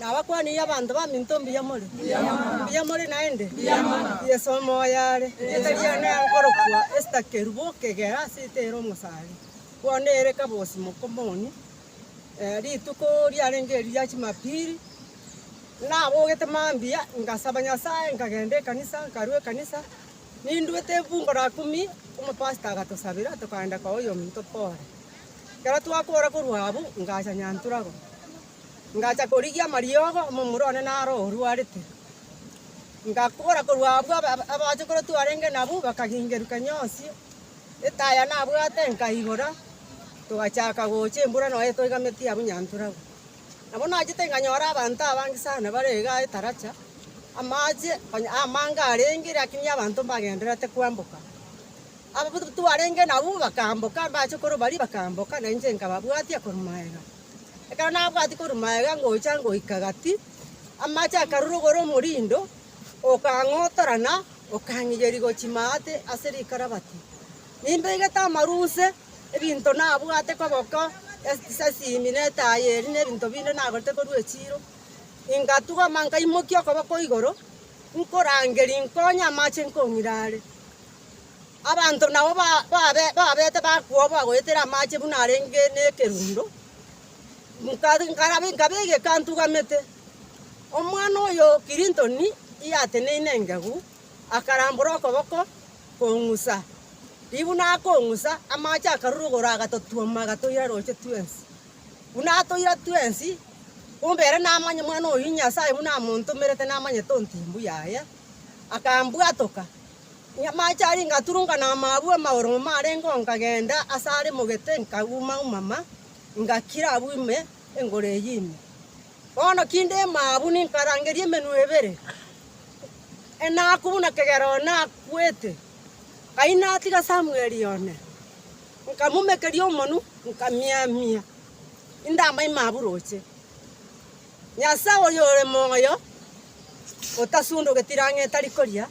Nabakwanirie abanto baminto mbuya more? Mbuya more naende? Yeso omoyo are. Erieta riane riakorokwa Esther Kerubo okegera ase ita ere omosare. Bono ere kabosi mokomoni. Rituko riarenge erio ria chimapili nabogete mambia ngasaba Nyasaye nkagenda ekanisa nkarua ekanisa ninduete fungu la kumi omopastor agatosabera tokagenda koa oyominto pore. Ekero twakora korwa abwo, ngacha Nyanturagwa. Ngacha korigia amariogo omomura one naro orwarete. Ngakora korwa abwo abachokoro twarenge nabwo bakagingeruka nyonsi, etaya nabwate nkaigora, togachaka gocha embura nonya toigameti abwo Nyanturagwa. Nabo nachete nkanyora abanto abange sana bare iga etaracha, amache onye amange arenge, lakini abanto mbagendererete kwamboka. Ababatuti twarenge nabwo bakaamboka, mbache korwa baria bakaamboka, na inche nkababwatia korwa magega. Ekero nabwatie korwa magega ngocha ngoika gati, amache akarurugora omorindo, okang'otora na okang'iyeria gochia maate ase rikarabati. Nimbeegete amaruse, ebinto nabwate koboko, esi- esimi na etaaya eria na ebinto binde nagorete korwa echiiro, ngatugama nkaimokia okoboko igoro, nkorangeria nkonye amache nkong'ira are. Abanto nao babete bakwo bagoetera amache buna arenge nekerundo, nkabegeka ntugamete. Omwana oyo o Kirintoni yateneine engegu, akarambora okoboko kong'usa, riria buna akong'usa amache akarurugora agatotwoma agatoira roche twensi. Buna atoira twensi, kumbe ere namanya omwana oyo Nyasaye buna amontomerete namanyete ontimbu yaye, akambwatoka. Amache aria ngaturunka na amaabwo amagoro ng'uma arenge oo, nkagenda ase are mogete, nkauma-umama, ngakira abwo ime engoro eyio ime. Bono kinde maabwo ninkarangeria emenwa ebere, enaku buna kegera oo nakwete. Nkai natiga Samweli one, nkamomekeria omonwa, nkamiamia, 'Indamanya maabwo roche. Nyasae oyore moyo, otasundugeti rang'e tari koria,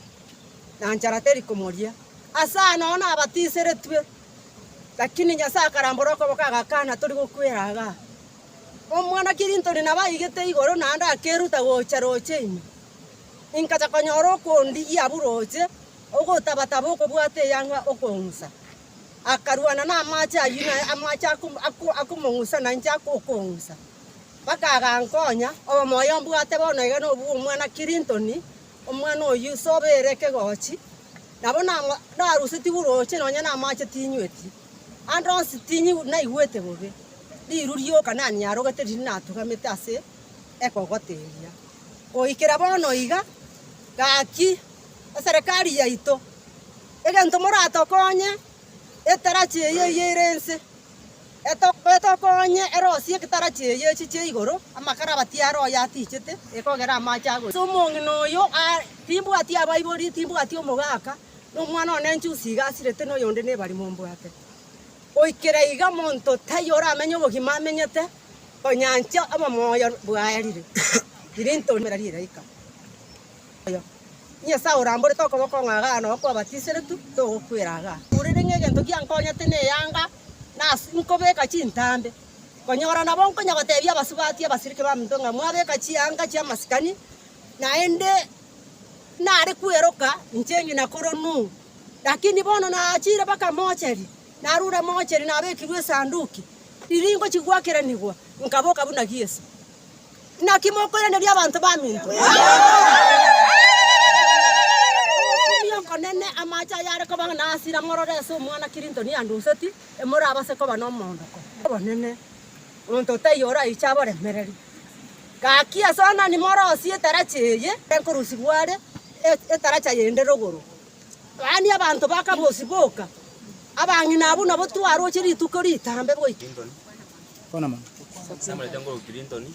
na nchara teri komoria. Ase aya nonya nabatiseretwe, lakini Nyasae akarambora okoboko agakana, tori gokwera igaa. Omwana Clinton nabo aigete igoro naende akeruta gocha roche ime. Inkacha konyora okondigia abwo roche, ogotabataba okobwata eyanga okong'usa. Akarwana namache ayio naye amache akomong'usa nainche okong'usa. Bakagankonya. Omoyo mbwate bono iga nobwo omwana Clinton, omwana o Yuso obeire ekegochi. Nabo narusetigwe orooche nonya namache tinyweti. Ande onsi naigwete bobe. Riru rioka naniarogete riria natugamete ase ekogota eria. Goikera bono iga, gaki eserekari yaito, egento moratokonye, etarachi eye ere ense. Etokonye erosi y'egetara chi'enyechi chia igoro, amakara abatie are oyo atichete, ekogera amache agocha. Ase omong'ina oyo timbwati abaibori, timbwati omogaka, na omwana one njusi iga asirete, na oyonde nebari mombwate. Goikera iga monto taiyo oramenye obogima amenyete, konya inche omomoyo bwaerire, riria intomera ri'egaika. oyo. Nyasae oramborete okoboko ng'a iga nao kwabatiseretwe, togokwera iga. Korende ng'a egento giankonyete neanga, nase nkobeka chintambe, konyora nabo nkonya gotebia abasubati abasiriki baminto ng'a mwabeka chianga chi'amasikani, naende nare kweroka inche ng'ina koronu. Lakini bono naachire mpaka mochari, narure mochari nabekirwe esanduki, riria ingochia goakeranigwa, nkaboka buna Yeso. Naki mokoiraneria abanto baminto. Omokumia okonene amache ayare koba na hasira morore ase omwana Clinton anduseti, emorabase koba nomoondoko obonene. Omonto otaiyo oraiche aboremereri. Gaki ase onani morosie etarachi eye enkorusibwa are etaracha yende rogoro. Mani abanto bakabosiboka, abang'ina abwo nabo twaroche rituko ritambe goika. Namorete nguru Clinton,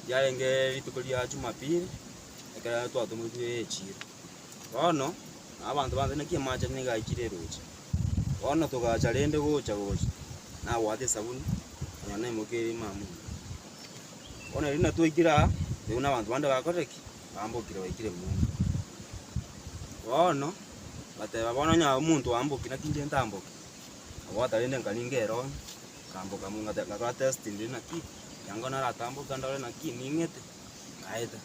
riarenge rituko ria Jumapili, ekero twatomoirwe echiro. Bono abanto bansa naki amache nigo aikire eroche. Bono togacha rende gocha gocha, nabwate esabuni, nonya na emboki ere maamuri. Bono erio nabo twaikire aa, toigwe na abanto bande bakorire ki? Bambokire baikire mbuya. Bono, bateba bono onye omonto oamboki naki inche ntamboki? Nabwata rende nkaringa erooro, nkamboka mo ngate nkakora test ndiri naki, ekiagera naratamboka ndore naki ning'ete, naeta.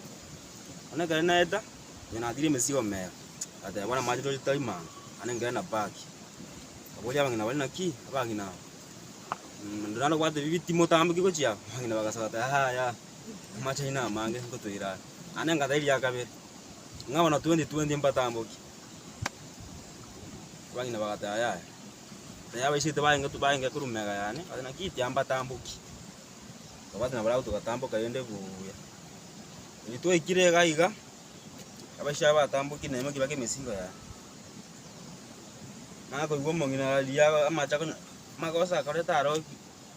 Bono ekero naeta, onye natirie emesigo mero, ngateba bono amache tori tari mango, naende ngere na bag. Nkaboria abang'ina bare naki, abagima aba, mm rende nabwate bibi timotamboki gochia aa, abang'ina bagasoka bagoteba aa yaya, amache aino namange, ngotoira are. Naende ngateba eria ya kabere, ng'a bono twenty twenty mbatamboki. Abang'ina bagateba, Yaya, na yabaisete baenge baenge korwa mega yane, bakabe, naki tiambatamboki. Tokabwati na barabwo togatamboka rende buya. Riria twaikire iga iga, abaisha aba batamboki na emokiba kemesigo yane. Nakoigwa omong'ina riria amache akonya, amagoso akareta aroki.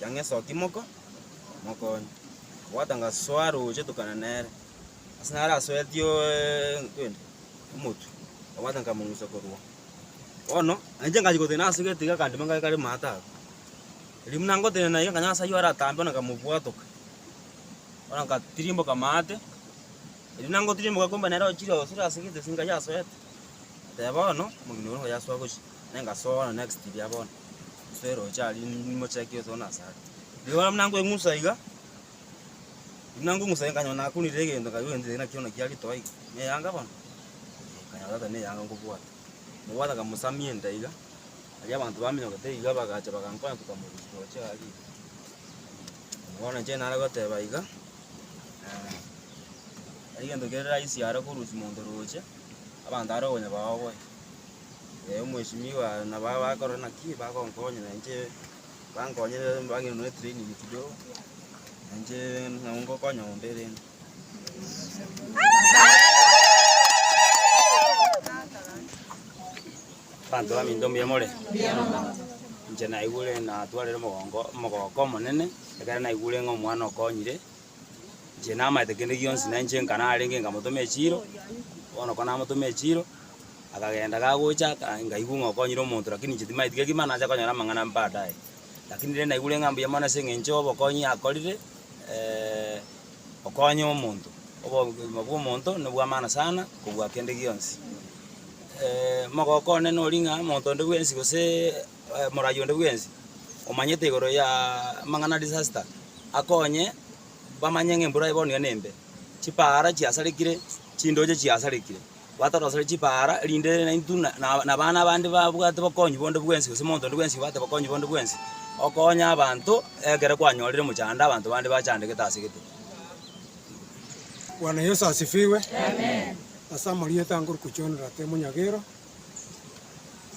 Chang'esoki moko, mokonye. Abwate ngasoa roche tokana nere, ase nare asoeti okwende omotwe, abwate nkamong'usa korwa oo. Bono nainche ngachia gotenena ase getiga akandima ngaki kare maate aria. Riria buna ngotenena iga nkanya nyasae oyore atambe bono nkamobwatoka, bono nkatirimboka maate, riria buna ngotirimboka kumbe nere ochire osire ase gete ase enka yasoete, oteba bono omogeni oyo nigo yasoa gochia. Nenga soona next ria bono. Nswere oche aria nimocheki oso na asare. Rigola buna ngweng'usa iga. Buna ngweng'usa nkanyona nakunire egento nkayua gento nakio nakia ritoa iga. Ne eyanga bono. Eh, Nkanyora tata ne eyanga ngobwata. Mobwata nkamosamia enda iga. Aria abanto baminyokete iga bagacha bagankonya tokamorusia oche aria iga. Bono inche nare goteba iga, eh, egento kere rahisi are korusia monto roche, abanto are okonya baoboe. omweshimiwa nabo abakorora naki bagonkonya na inche bankonyire bang'ina nonye training kidogo, na inche nabo ngokonya onde rende. Abanto baminto mbuya more? Inche naigure natwarire omogongo omogooko omonene, ekero naigure ng'a omwana okonyire, Inche namaete kende gionsi, na inche nka narenge nkamotoma echiiro, bono ko namotoma echiiro, akagenda gagocha aka nkaigwa ng'a okonyire omonto rakini inche timaeti gaki mani nache konyora amang'ana baadaye. Rakini rende naigure ng'a mbuya mono ase eng'encho y'obokonyi akorire okonya omonto, obogima bwa omonto nobwa maana sana kobua kende gionsi. mogoko one nori ng'a omonto onde bwensi goseee. moragia onde bwensi omanyete igoro y'amang'ana a disaster, akonye bamanye ng'a embura bono iga nembe, chipaara chiasarekire, chindoche chiasarekire, batoroserie chipaara erinde naintwe na na abana abande babwate obokong'u bonde bwensi gose omonto onde bwensi obwate obokong'u bonde bwensi, okonye abanto ekero kwanyorire mochando abanto bande bachandegete ase gete. Bwana Yeso asifiwe. Amen. Ase amarieta ngokochorera tee monyagero.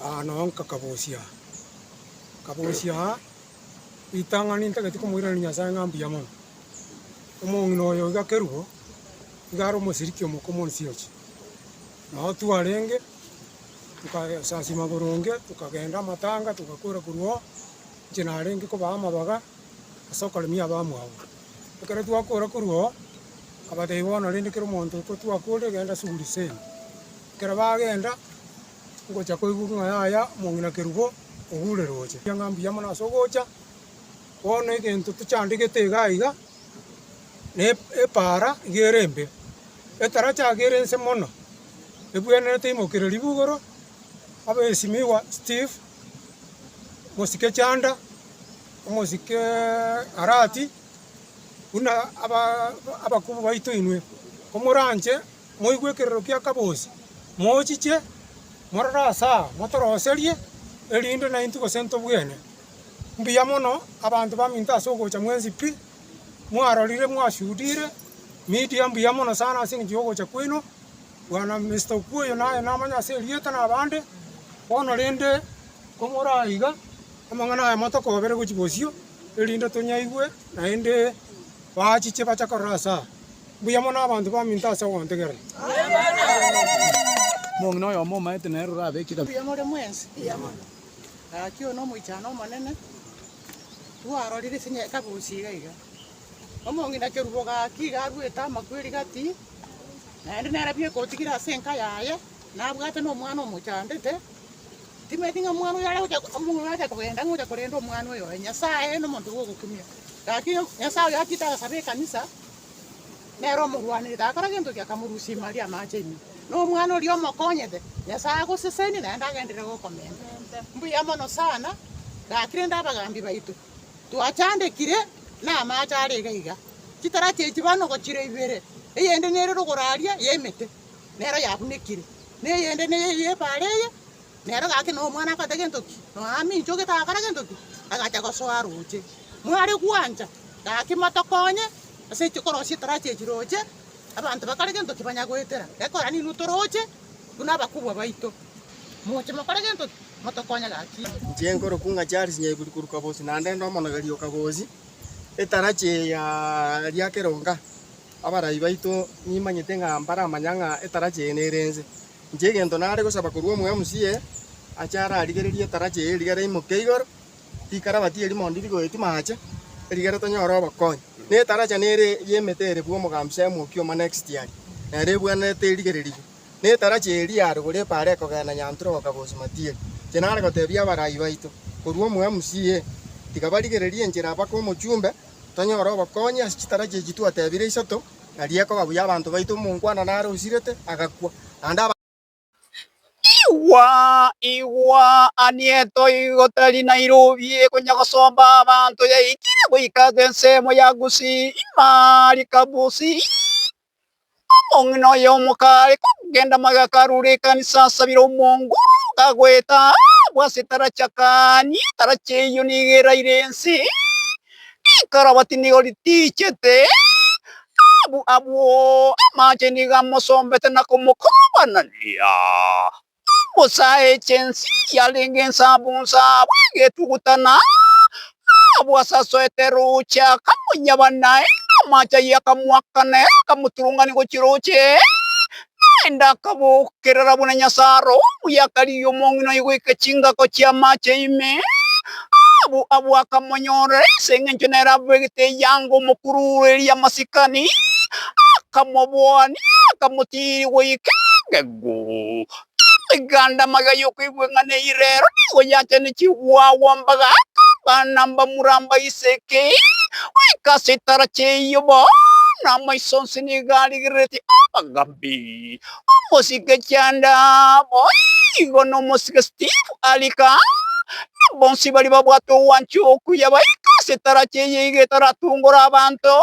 aa nabo nkakabosia, nkabosia aa ritang'ani ntagete komoiraneria Nyasae ng'a mbuya mono. Omong'ina oyo iga kerubo, iga are omosiriki omoke omo Nsioki. Nabo twarenge, tokayesasima boronge, tokagenda amatanga, togakwera korwa oo, inche narenge kobaa amabaga ase okoremia abamwabo. Ekero twakora korwa oo, akabatebia, Bono rende kera omonto oko twakore, genda ase Uriseni. Ekero bagenda, ngocha koigwa ng'a yaya omong'ina kerubo ogure roche. Erio ng'a mbuya mono ase ogocha, bono egento tochandegete iga iga, na epaara iga ere embe. Etaracha iga ere nse mono, ebwenerete imokereri bu igoro, abesimigwa Steve, mosike Chanda. Omosike Arati, Buna abakubi baito inwe, komoranche moigwe ekerero kia Kabosi, mochiche morore ase aa, motoroserie, erinde naintwe gose ntobwene. Mbuya mono abanto baminto ase ogocha mwensi pi, mwarorire, mwashuhudire, Media mbuya mono sana ase engencho y'ogocha kwaino, Bwana Mister Okuoyo naye namanya ase erieta na abande, bono rende Komoraaiga amang'ana ayamo tokobere gochia bosio, erinde tonyaigwe naende baachiche bache korora ase aa. Mbuya mono abanto baminto ase ogontegerera. Mong'ina oyomo omaete nere orabe ekidabia. Mbuya more mwensi. Gaki oyo nomoichano omonene, twarorire ase enye kabosi iga iga. Omong'ina kerubo gaki iga arwete amakweri gati, naende nere bieka otigire ase enka yaye. nabwate nomwana omochandete, timanyeti ng'a omwana oyo aregocha omong'ina oyo acha kogenda ng'a ocha korenda omwana oyo oye. Nyasaye nomonto bwogokumia. Gaki Nyasaye oyo achiete agasaba ekanisa, nere omorwanerete, agakora gento ki? Akamorusia ime aria amache ime. Na omwana oria omokonyete, Nyasaye agosesenie naende agenderere gokomenta. Mbuya mono sana, gaki rende abagambi baito, twachandekire namache are iga iga. Chitara chie chibano gochira ibere, eyende nere rogoro aria y'emete. nero yagunekire, na eyende neye eye epaara eye. Nero gaki na omwana akote gento ki? Noamincha ogetagakana gento ki? Agacha gosoa roche. Mware gwancha, gaki motokonye ase echi korosia etarachi echi roche, abanto bakore gento ki? Banya goetera. Gekogera ninwe toroche buna abakubwa baito. Moche mokore gento ki? Motokonye gaki. Inche nkorokwa ng'a Charles Nyaiburi korwa Kabosi, naende nde omonogeri o Kabosi, etarachi eye ya Riakeronga. Abarai baito nimanyete ng'a mbaramanya ng'a etarachi eye nere ense. Inche egento nare gosaba korwa omwemusie, ache ararigererie etarachi eye erigere imoke igoro, tikarabati erimo ndiri goeti maache, erigere tonyore obokonyi. Na etaracha nere y'emete ere bwa omogambi Samuel ki'oma na Exitiali, nere ebwenerete erigererigwe. Na etarachi eye eria yarogorwa epaaro ekogenda Nyantura goka Bosimatieri. Inche nare gotebia abarai baito korwa omwemusie, tiga barigererie enchera bake omochumbe, Tonyore obokonyi ase chitara chi'echi twatebire isato, na riekoba buya abanto baito omonkwana nare osirete, agakwa, naende abande. Igwa, igwa, Anieto igo tari Nairobi konya gosomba abanto yaikire goika ase ensemo ya Gusii, Imarika Busii. Omong'ina oye omokare kogenda magega karure ekanisa asabire omongo, kagoeta abwo ase etarachi akania etarachi eyio nigo eraire ense, rikarabati nigo ritiichete, abwo abwo amache nigo amosombete na komokobanania. Bosa eche ense yarenge ensabu nsabu egetuguta na abwo asasoete roche akamonyaba naye namache ayio akamoakana ere akamoturungani gochia roche naende akabokerera buna Nyasae oo omuya akarigia omong'ina oye goika chingako chi'amache ime abwo abwo akamonyorera ase engencho nere abegete eyanga omokurureria amasikani akamoboania akamotiiria goika engegu. Amaganda amaga y'okoigwa ng'a neyire rero nigo yachanechigwe agwo mbaga akabana mbamura mbaiseke goika ase etara chi'eyio bono amaiso onsi nigo arigereretie obogambi. Omosike Chanda boigo nomosike Steve arika na bonsi baria babwate ogwancha okuya baika ase etara chi'eyio iga etaratungora abanto